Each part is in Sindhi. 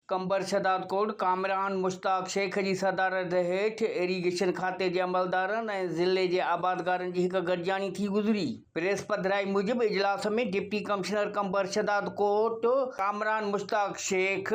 قمبر شھداد ڪوٽ ڪامران مشتاق شيخ جي صدارت ھيٺ ايريگيشن کاتي جي عملدارن ۽ ضلعي جي آبادگارن جي ھڪ گڏجاڻي ٿي گذري. پريس پڌرائي موجب اجلاس ۾ deputy commissioner Qambar Shahdadkot Kamran Mushtaq Shaikh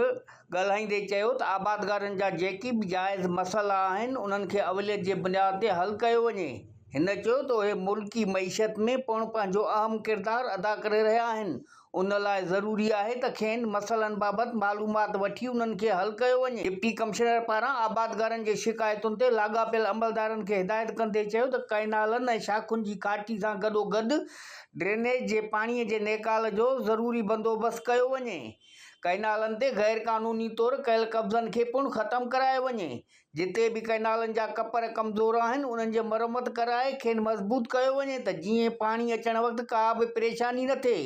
ڳالھائيندي چيو ته آبادگارن جا جيڪي به جائز مسئلا آھن انھن کي اوليت جي بنياد تي حل ڪيو وڃي. ھن چيو ته اھي ملڪي معيشت ۾ پڻ پنھنجو اھم ڪردار ادا ڪري رھيا آھن ان لاء ضروري آهي ته کين مسئلن بابت معلومات وٺي انهن کي حل ڪيو وڃي. ڊپٽي ڪمشنر پاران آبادگارن جي شڪايتن تي لاڳاپيل عملدارن کي هدايت ڪندي چيو ته ڪئنالن ۽ شاخن جي ڪاٽي سان گڏوگڏ ڊرينيج جي پاڻي جي نيڪال جو ضروري بندوبست ڪيو وڃي. ڪئنالن تي غيرقانوني طور ڪيل قبضن کي پڻ ختم ڪرايو وڃي، جتي به ڪئنالن جا ڪپر ڪمزور آهن انهن جي مرمت ڪرائي کين مضبوط ڪيو وڃي ته جيئن پاڻي اچڻ وقت ڪا به پريشاني نه ٿئي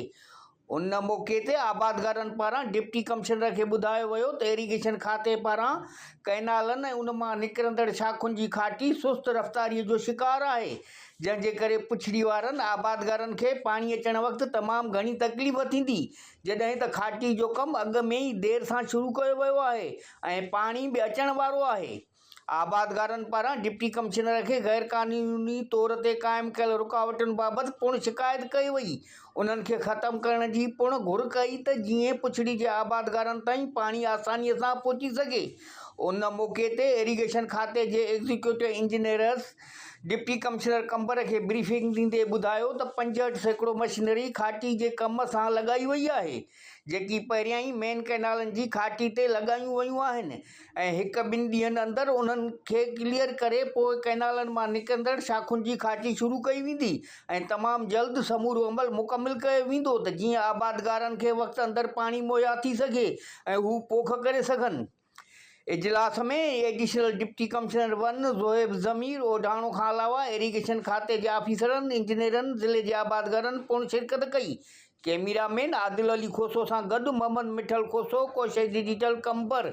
ان موقعي تي آبادگارن پاران ڊپٽي ڪمشنر کي ٻڌايو ويو ته ايريگيشن کاتي پاران ڪئنالن ۽ ان مان نڪرندڙ شاخن جي کاٽي سست رفتاري جو شڪار آهي جنهن جي ڪري پڇڙي وارن آبادگارن کي پاڻي اچڻ وقت تمام گهڻي تڪليف ٿيندي جڏهن ته کاٽي جو ڪم اڳ ۾ ئي دير سان شروع ڪيو ويو آهي ۽ پاڻي به اچڻ وارو آهي، آبادگارن پاران ڊپٽي ڪمشنر کي غيرقانوني طور تي قائم ڪيل رڪاوٽن بابت پڻ شڪايت ڪئي وئي، انهن کي ختم ڪرڻ جي پڻ گهر ڪئي ته جيئن پڇڙي جي آبادگارن تائين پاڻي آساني سان پهچي سگهي، ان موقعي تي ايريگيشن کاتي جي executive engineers deputy commissioner Qambar کي بريفنگ ڏيندي ٻڌايو ته پنجهٺ سيڪڙو مشينري کاٽي جي ڪم سان لڳائي وئي آهي، جيڪي پهريان ئي مين ڪئنالن جي کاٽي تي لڳايون ويون آهن ۽ هڪ ٻن ڏينهن اندر انهن کي ڪليئر ڪري پوء ڪئنالن مان نڪرندڙ شاخن جي کاٽي شروع ڪئي ويندي ۽ تمام جلد سمورو عمل مڪمل ڪيو ويندو ته جيئن آبادگارن کي وقت اندر پاڻي مهيا ٿي سگهي ۽ هو پوک ڪري سگهن. اجلاس ۾ additional deputy commissioner one Zohaib Zameer Odhano کان علاوه ايريگيشن کاتي جي آفيسرن، انجنيئرن، ضلعي جي آبادگارن پڻ شرڪت ڪئي. ڪئميرا مين عادل علي کوسو سان گڏ محمد مٺل کوسو، ڪوشش ڊجيٽل قمبر.